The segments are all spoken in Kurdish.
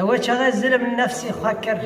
Ew e çaxê zilm nefsî xwe kir,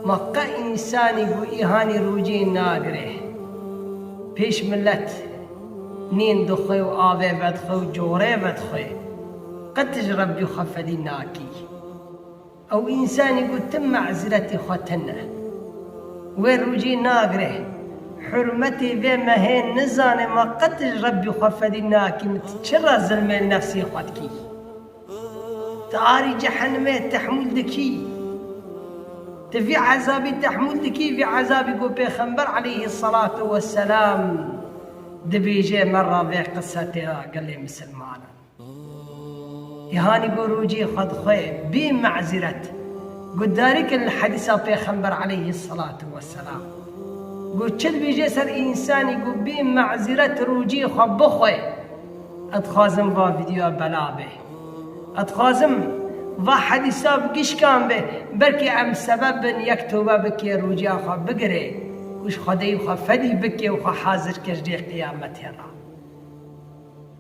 ma qe însanî ku îhanî rûcê nagire pêş milet, nîn dixwe û avê vedixwe û corê vedixwe, qet ji Rebbî xwe fedî nakî. Ew însanî ku tim mezretî xwe tine wê rûcî nagre, hurmetê vê me hê nizane ma qet ji Rebbî xwe fedî nakîm ti çi re zilmê nefsê xwe dikî? Ti arî cehenimê tehmûl dikî? Ti vî ezabî tehmûl dikî vî ezabî ku pêxember eleyhî selatû weselam dibêje me re vê qise tê ra gelê misilmanan. Îhanî ku rûcî xwe di xwe bî me'zîret, guhdarî kirin li hedîsa Pêxember eleyhî selatu we selam ku çi dibêje ser însanî ku bî me'zîret rûcî xwe bixwe, Ez dixwazim va vîdyoya bela be. Ez dixwazim va hedîsa bi gişkan be, belkî em sebeb bin yek tewbe bike, rûcîya xwe bigire û ji Xwedayî xwe fedî bike û xwe hazir ke ji dê qiyametê re.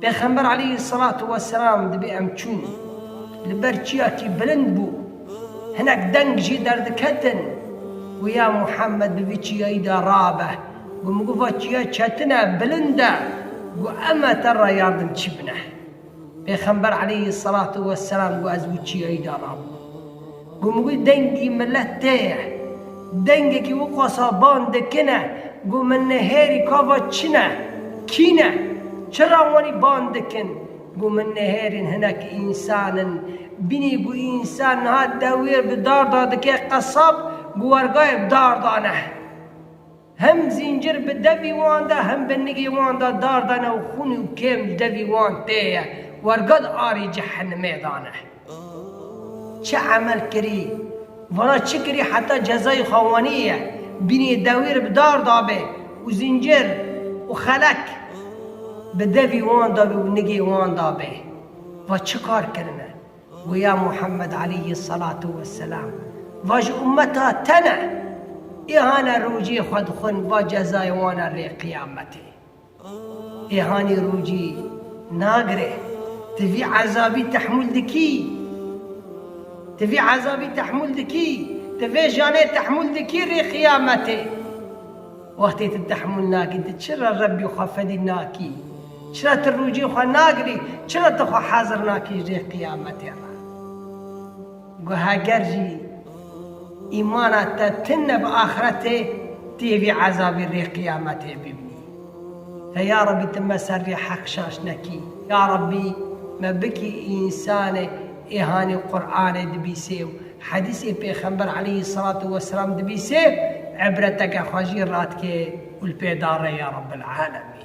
Pêxember aleyhî selatu weselam dibê em çûn, li ber çiyakî bilind bû, hinek deng jê derdiketin ku ya Muhammed bi vî çiyayî de rabe, ku min got va çiya çetin e, bilind e, ku em e te re yardimçî bine. Pêxember aleyhî selatu weselam got ez bi çiyayî de rabûm. Gom wî dengî milet tê ye. Dengekî wî qasa ban dikine gom min nihêrî ka va çi ne, kî ne, çi ra wanî ban dikin. Gom min nihêrîn hinek însan in. Bînî ku însan niha dewiyê bi darda dike qesab, bi wergayê bi darda ne. Hem zîncir bi devî wan de hem bi nigê wan de dar dane û xûnî û kêm li devî wan tê ye, wergad arê cehenimê dane. Çi emel kirî, vana çi kirî heta cezayê xwe wanî ye, bînê dewî re bi dar dabê û zîncir û xelek bi devî wan dabê û nigê wan dabê. Va çi kar kirine? Û ya Muhammed aleyhî selatû weselam, va ji ummeta te ne, îhane rojê xwe dixwin va cezayê wan e rê qiyametê. Îhanî rojî nagire, tu vî ezabî tehmûl dikî? Tu vî ezabî tehmûl dikî? Tu vê janê tehmûl dikî rê qiyametê? Wextê tu tehmûl nakî, tu çira Rebbî xwe fedî nakî? Çira tu rûcî xwe nagirî? Çira tu xwe hezir nakî jê qiyametê re? Got, Heger jî îmana te tin ne bi axretê, tu yê vî ezabî rê qiyametê bibînî. Te ya Rabbî tu me ser rê heq şaş nekî. Ya Rabbî me bikî însanê êhanî Quranê dibîsê û hedîsê pêxember eleyhî selatû weselam dibîsê, îbreteke xwe jî radikê û li pê da re ya Rabbel'alemîn.